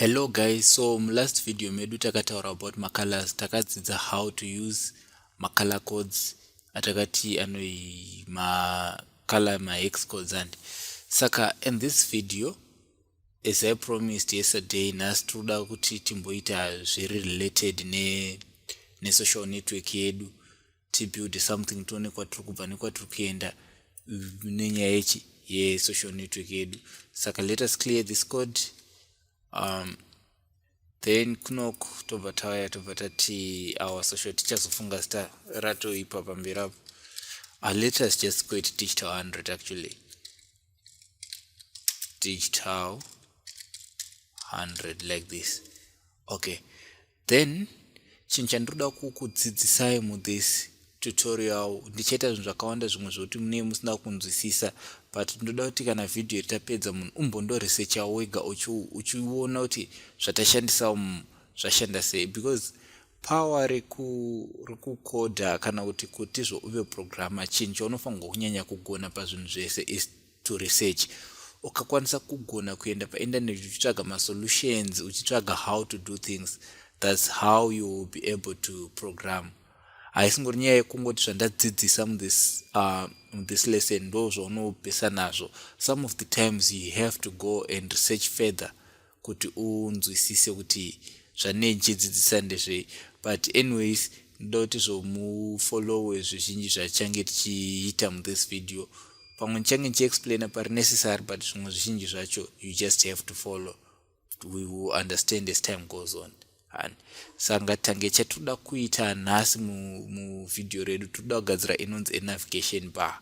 hello guys so mulast video medu takataura about macolors takadzidza how to use macolor codes atakati anoi macolor mahex codes and saka in this video as i promised yesterday nhasi tinoda kuti timboita zviri related ne, ne social network yedu tibuild something tione kwatiri kubva nekwatiri kuenda nenyaya yechi yesocial network yedu saka let us clear this code um, then kunoku tobva tauya tobva tati our social tichazofunga zita ratoipa pamberi apo uh, let us just go it digital 100 actually digital 100 like this okay then chinhu chandinoda kukudzidzisai muthis tutorial ndichaita zvinhu zvakawanda zvimwe zvokuti munee musina kunzwisisa but ndoda kuti kana vhidhiyo ritapedza munhu umbondoresecha wega uchiona kuti zvatashandisa umu zvashanda sei because power rekukodha kana kuti kutizvo uve programma chinhu chaunofanirwa kunyanya kugona pazvinhu zvese is to research ukakwanisa kugona kuenda painternet uchitsvaga masolutions uchitsvaga how to do things thats how you will be able to program haisingori nyaya yekungoti zvandadzidzisa muthis uh, muthis lesson ndo zvaunopesa nazvo some of the times you have to go and research further kuti unzwisise kuti zvanei ndichidzidzisa ndezvei but anyways ndoda kuti zvomufollowe zvizhinji zvachange tichiita muthis video pamwe ndichange ndichiexplaina pari necessary but zvimwe zvizhinji zvacho you just have to follow we will understand as time goes on hani sanga tange chatinoda kuita nhasi muvhidhiyo redu tinoda kugadzira inonzi enavigation bar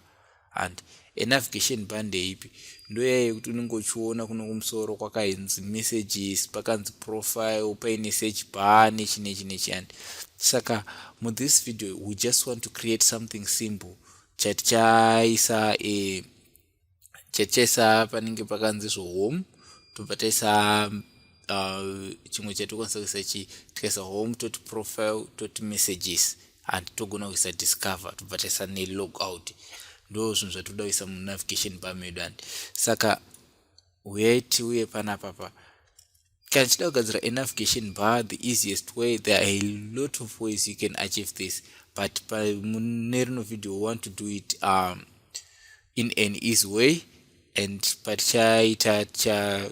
and enavigation bar ndeipi ndoyaya yekuti unenge uchiona kuno kumusoro kwakainzi messages pakanzi profile paine search bar nechi nechi nechi and saka muthis video we just want to create something simple chatichaisa e eh, chechesa panenge pakanzi zvohome tobva taisa uh, chimwe uh, chatikwanisa kuisa chi tikaisa home toti profile toti messages and togona kuisa discover tobva taisa nelog out ndo zvinhu zvatinoda kuisa munavigation pamedu and saka weti uye panapapa kana tichida kugadzira enavigation bar the easiest way there are a lot of ways you can achieve this but mune rino video we want to do it um, in an easy way and patichaita ticha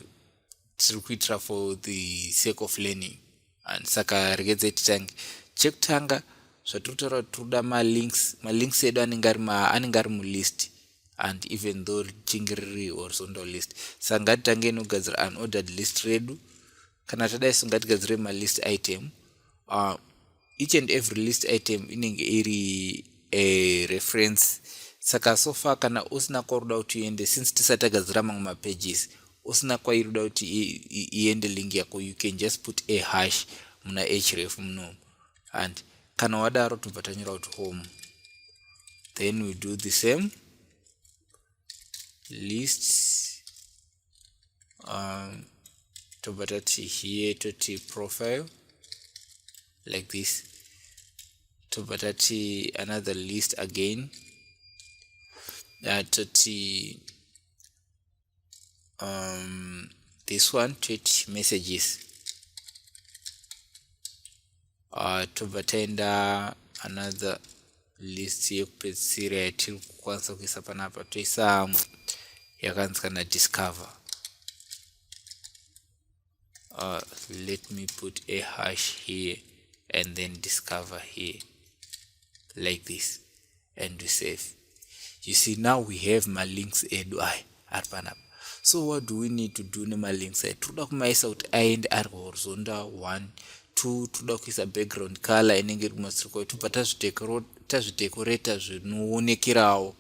tiri kuitira for the sake of learning and saka regedze titange chekutanga zvatiri kutaura kuti tiri kuda malinks malinks edu anenge ari mulist and even though richinge riri horizontal list saka ngatitange inogadzira unordered list redu kana tadai so ngatigadzire malist item uh, each and every list item inenge iri a reference saka so far kana usina kwaruda kuti uende since tisati tagadzira mamwe mapages usina kwairuda kuti iende link yako you can just put a hash muna href munomu and kana wadaro tobva tanyora kuti home then we do the same list um, tobva tati here toti profile like this tobva tati another list again uh, toti um, this one toit messages uh, tobva taenda another list yekupedzisira yatiri kukwanisa kuisa panapa toisa yakanzi kana discover uh, let me put a hash here and then discover here like this and we save you see now we have my links edu aya ari panapa so what do we need to do nemalinks aya tiri kuda kumaisa kuti aende ari horizonta 1 2 tinoda kuisa background color inenge iri kumasirikwa tobva tazvidekoreta zvinoonekerawo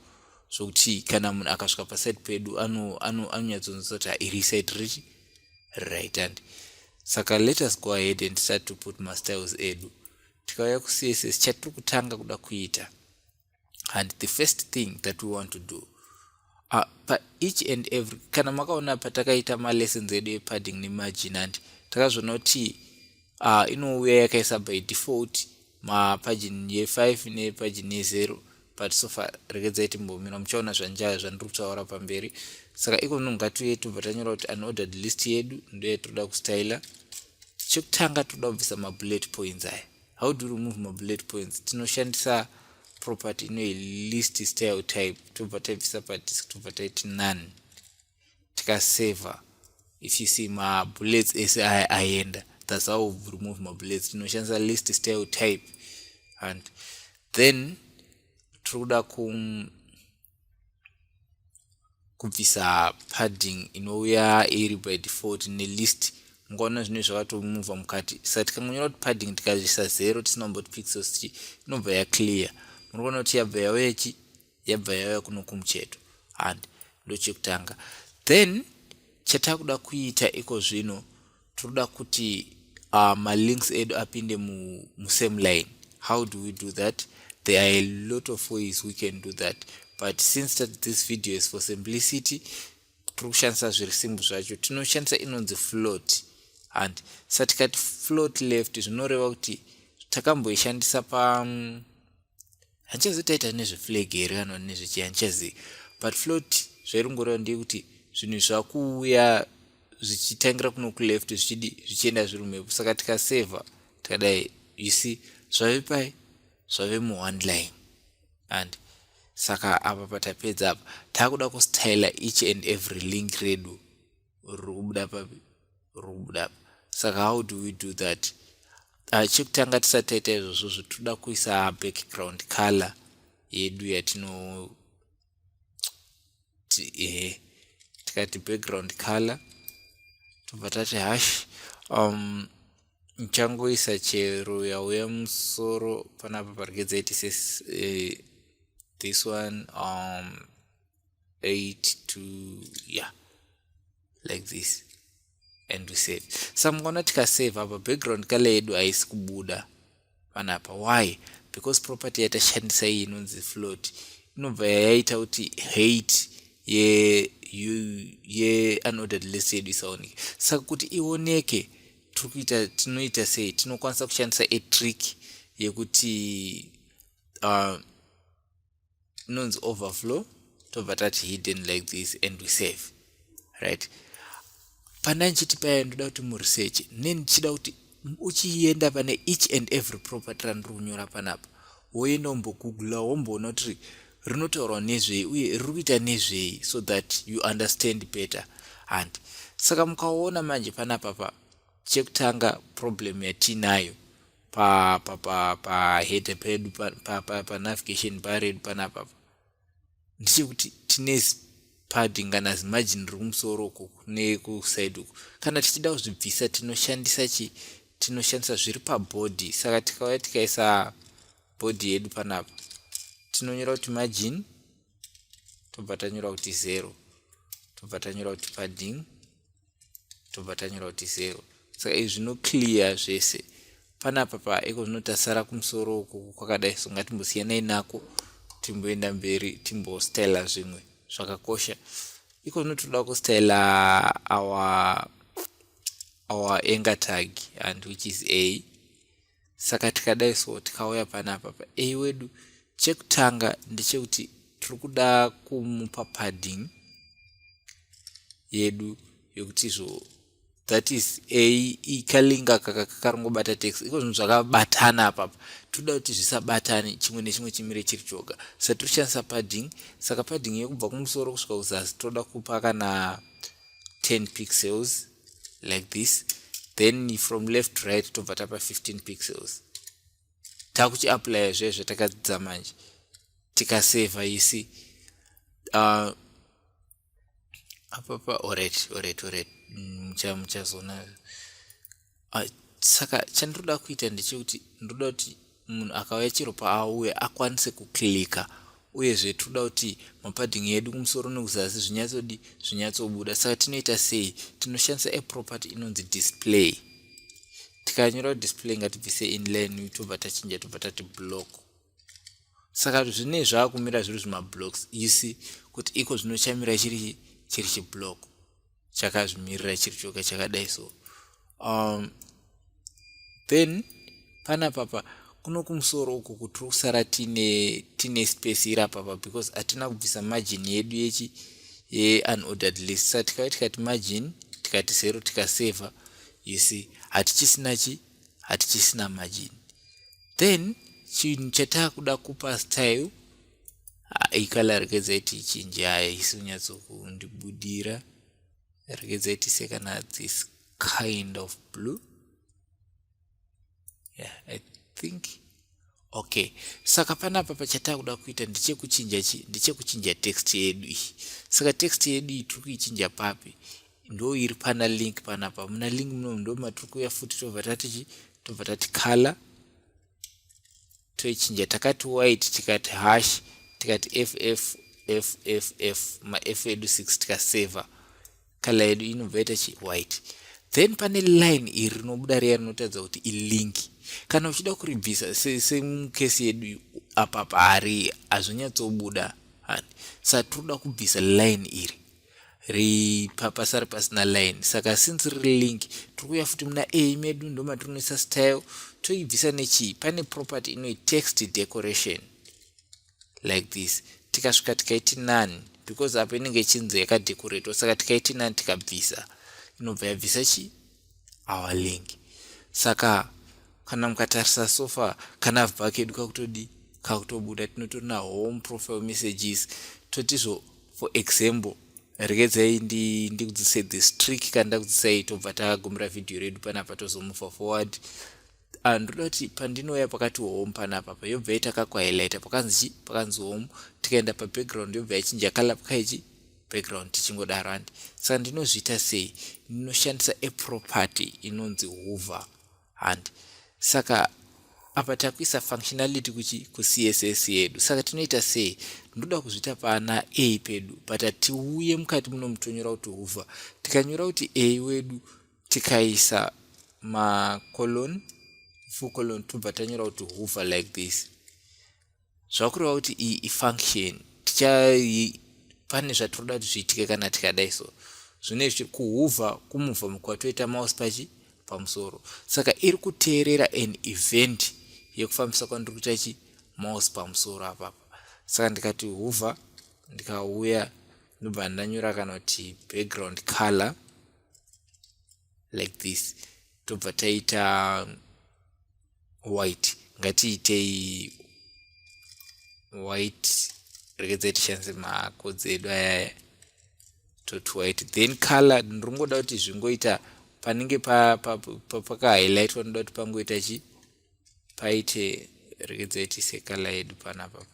zvokuti kana munhu akasvika paside pedu anonyatsonzisa kuti iri side riri right and saka let us go ahead and start to put mastyles edu tikauya kucss chatiri kutanga kuda kuita and the first thing that we want to do uh, pa each and every kana makaona patakaita malessons edu epadding nemargin and takazvona kuti uh, inouya yakaisa by default mapagin ye5 nepagin ye0 but sofa regedzai timbomira muchaona zvanjaya zvandiri kutaura pamberi saka iko zvinhu ngatiuye tobva tanyora kuti unordered list yedu ndoye toda kustyla chekutanga toda kubvisa mabullet points aya how do remove mabullet points tinoshandisa property inoyi list style type tobva taibvisa padisk tobva taiti none tikasaver if you see mabullets ese aya aenda that's how we remove mabullets tinoshandisa list style type and then tiri kuda ku kubvisa padding inouya iri by default nelist mukaona zvinoi zvakatomuvha mukati sa tikangonyora kuti padding tikazvisa zero tisina kumboti pixels chi inobva yaclear muri kuona kuti yabva yauya chi yabva yauya kuno kumucheto and ndochekutanga then chatakuda kuita iko zvino tinoda kuti uh, malinks edu apinde mu, mu same line how do we do that there are a lot of ways we can do that but since that this video is for simplicity tiri kushandisa zviri simbu zvacho tinoshandisa inonzi float and satikati float left zvinoreva kuti takamboishandisa pa um, handichazi taita nezveflag here kana nezvechi handichazi but float zvairongoreva ndeyekuti zvinhu zvakuuya zvichitangira kuno kuleft zvichidi zvichienda zviri mhepo saka tikaseva tikadai you see zvave pai zvave muone line and saka apa patapedza apa taakuda kustyla each and every link redu ruri kubuda papi ruri kubuda apa saka how do we do that ah, chekutanga tisati taita izvozvo zvitoda kuisa background color yedu yatino ehe tikati background color tobva tati hash um nchangoisa chero yauya musoro panapa parigedza iti eh, this one um 8 to yeah like this and we save so mukona tikasave apa background kale yedu haisi kubuda panapa why because property yatashandisa iyi inonzi float inobva yayaita kuti hate ye ye unordered list yedu isaoneke saka kuti ioneke tiri kuita tinoita sei tinokwanisa kushandisa a trick yekuti uh, inonzi overflow tobva tati hidden like this and we save right pana ndichiti paya ndoda kuti muresearch ne ndichida kuti uchienda pane each and every property randiri kunyora panapa woenda wombogoogla womboona kuti rinotaurwa nezvei uye riri kuita nezvei so that you understand better and saka mukaona manje panapa pa chekutanga problem yatiinayo pa pa pa pa header pedu pa pa pa, pa navigation bar redu panapa ndechekuti tine padding kana zimajini riri kumusoro uku kune kusaidi uku kana tichida kuzvibvisa tinoshandisa chi tinoshandisa zviri pabhodhi saka tikauya tikaisa bhodhi yedu panapa tinonyora kuti majini tobva tanyora kuti zero tobva tanyora kuti padding tobva tanyora kuti zero saka izvi zvino clear zvese panapa pa iko zvinotasara kumusoro uku kwakadai so ngatimbosiyanai nako timboenda mberi timbostyla zvimwe zvakakosha iko zvinotoda kustyla our our anger tag and which is a saka tikadai so tikauya panapa pa a wedu chekutanga ndechekuti tiri kuda kumupa padding yedu yekuti izvo that is ikalinga kakarongobata tax iko zvinhu zvakabatana apapa toda kuti zvisabatane chimwe nechimwe chimire chiri choga sa tiri kushandisa padding saka padding yekubva kumusoro kusvika kuzasi toda kupa kana 10 pixels like this then from left to right tobva tapa 15 pixels takuchiaplya zve zvatakadzidza manje tikaseva isi uh, apapa oret oret oret muchazoona uh, saka chandinoda kuita ndechekuti ndinoda kuti munhu akauya chero paauya akwanise kuclika uyezve tinoda kuti mapadding edu kumusoro nekuzasi zvinyatsodi zvinyatsobuda saka tinoita sei tinoshandisa aproperty inonzi display tikanyora display ngatibvise inline tobva tachinja tobva tati block saka zvinei zvaakumira zviri zvimablocks you see kuti iko zvinochamira chiri chiri chiblock chakazvimirira chiri choga chakadai so um, then pana papa kuno kumusoro uku kuti tiri kusara tine tine space iri apapa because hatina kubvisa margin yedu yechi yeanordered list sa tikave tikati margin tikati zero tikaseva you see hatichisina chi hatichisina margin then chinhu chataakuda kupa style Ah, ikala rekedza iti chinji haya isi unyatsokundibudira rekedza iti sekana this kind of blue yeah, i think okay saka panapa pachatakuda kuita ndichekuchinja chi ndichekuchinja text yedu iyi saka text yedu iyi tiri kuichinja papi ndo iri pana link panapa muna link muno ndo matiri kuya futi tobva tatichi tobva tati color toichinja takati white tikati hash tikati ff ff maff edu 6 tikasaver color yedu inobva ita chi white then pane line iri rinobuda riya rinotaridza kuti ilink kana uchida kuribvisa semukesi se yedu apapa hari hazvinyatsobuda hani sa tiri kuda kubvisa line iri ri pabasa ri pasina line saka since riri link tiri kuuya futi muna a medu ndomatinoisa style toibvisa nechii pane property inoi text decoration like this tikasvika tikaiti nani because apo inenge ichinzi yakadecoratwa saka tikaiti nani tikabvisa inobva yabvisa chii our link saka kana mukatarisa sofa kana vba kedu kakutodii kakutobuda tinotori na home profile messages totizvo for example regedzai ndikudzisai ndi this trick kana ndakudzisai tobva tagagumira vhidhiyo redu panapa tozomufa forward ah, ndoda kuti pandinouya pakati home panapa pa yobva yaita kakwahilaita pakanzi chi pakanzi home tikaenda pabackground yobva yachinja kala pakaichi background tichingodaro and saka ndinozviita sei ndinoshandisa aproperty inonzi hoover and saka apa takuisa functionality kuchi kucss yedu saka tinoita sei ndoda kuzviita pana a pedu but hatiuye mukati muno mutonyora kuti hoover tikanyora kuti a wedu tikaisa macolon full colon tobva tanyora kuti hoover like this Zvakureva kuti iyi ifunction ticha pane zvatinoda kuti zviitike kana tikadai so zvine zvichiri kuhuvha kumuvha mukwatoita mouse pachi pamusoro saka iri kuteerera an event yekufambisa kwandiri kuita chi mouse pamusoro apapa saka ndikati huvha ndikauya ndobva ndanyora kana kuti background color like this tobva taita white ngatiitei white regedzai tishandise makodzi edu ayaya toti white then color ndinongoda kuti zvingoita panenge pakahighlightwa noda kuti pangoita chi paite regedzai tiise color yedu panapa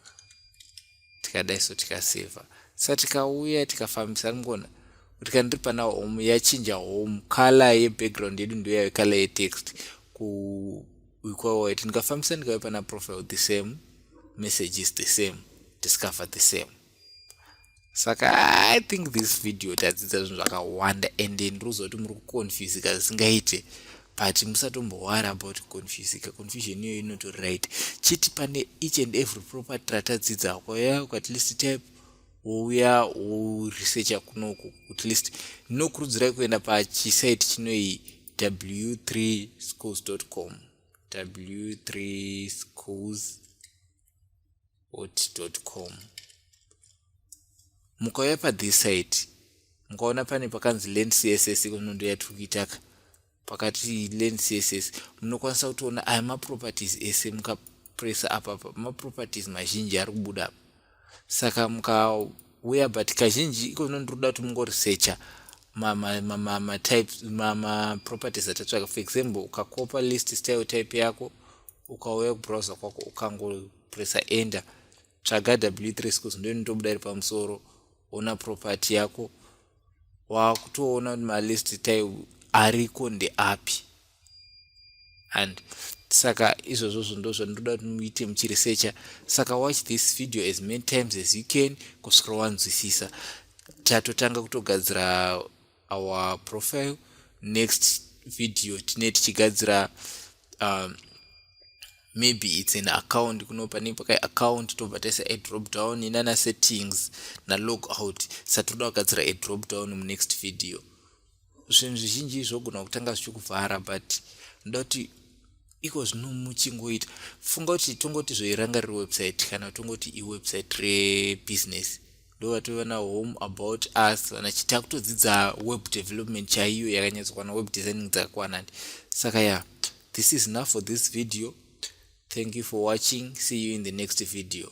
tikadai so tikaseva sa tikauya tikafambisa rimgona kuti kana ndiri pana home yachinja home kala yebackground yedu ndo yave kala yetext kuikwawaiti ndikafambisa ndikave pana profile the same message is the same discover the same saka i think this video tadzidza zvinhu zvakawanda and ndiri kuzoti muri kuconfusika zvisingaite but musatombowara about confusika confusion iyoyo inoto right chiti pane each and every proper tratadzidza hako ya at least type wouya woresearcha kunoku at least ndinokurudzirai kuenda pachisite chinoyi w3 schools com w3 schools hot.com mukauya pathis side mukaona pane pakanzi land css ikonondo yatiri kuitaka pakati land css munokwanisa kutoona aya maproperties ese mukapresa apapa maproperties mazhinji ari kubuda apa saka mukauya but kazhinji ikono ndiri kuda kuti mungoresearcha matypes maproperties atatsvaka for example ukakopa list style type yako ukauya kubrowser kwako ukango pressa enter tsvaga w3 schools ndo inotobuda iri pamusoro ona property yako wakutoona kuti malist tai ariko ndeapi and saka izvozvozvo ndo zvandoda kuti muite muchiresecha saka watch this video as many times as you can kusvika wanzwisisa tatotanga kutogadzira our profile next video tine tichigadzira um, maybe its an account kuno pane pakai account tobva taisa adrop down inana settings nalog out satoda kugadzira adrop down munext video zvinhu zvizhinji zvogona kutanga zvichikuvhara but ndoda kuti iko zvino muchingoita funga kuti tongoti zvoiranga riri website kana tongoti iwebsite rebusiness ndovatova nahome about us vana chiti akutodzidza web development chaiyo yakanyatsokwana web designing dzakakwana ndi saka ya yeah, this is enough for this video thank you for watching see you in the next video